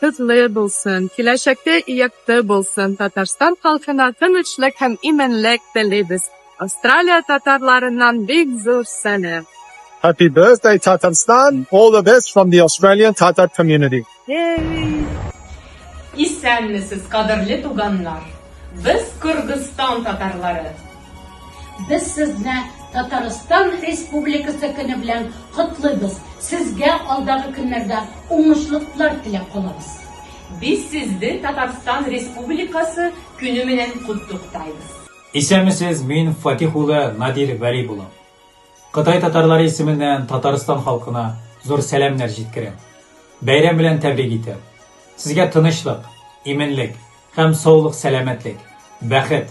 Кызлы булсын, киләчәккә якты булсын, Татарстан халкына тынычлык һәм иминлек телибез. Австралия татарларыннан бик зур сәлам. Happy birthday Tatarstan all the best from the Australian Tatar community. Исәнмесез, кадерле туганнар! Без Кыргызстан татарлары! Без сезне Татарстан Республикасы көне белән котлыйбыз. Сезгә алдагы көннәрдә уңышлыклар теләп калабыз. Без сезне Татарстан Республикасы көне менән котлыктайбыз. Исәнмесез, мин Фатих улы Надир Вәли улы. Кытай татарлары исеменнән Татарстан халкына зур сәламнәр җиткерәм. Бәйрәм белән тәбрик итәм. Сезгә тынычлык, именлек һәм саулык-сәламәтлек, бәхет,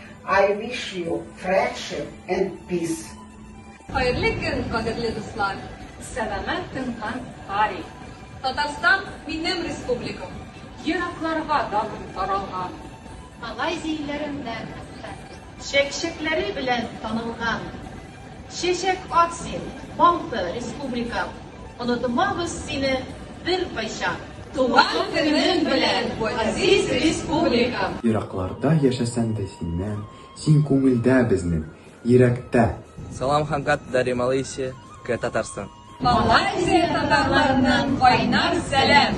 I wish you friendship and peace. Хәерле көн, кадерле дуслар! Сәламәт көн һәм пари! Татарстан минем республикам. Еракларга даным таралган. Малайзия илләреннән хәтта. Чәкчәкләре белән танылган. Чәчәк ат син, балты республикам, Онытмабыз сине беркайчан. Туган көнең белән, газиз республикам! Еракларда яшәсәң дә синнән, Син күңелдә безнең, йирәктә! Салам Хангат Дари Малыйси ке Татарстан. Малайзия татарларыннан кайнар сәлам!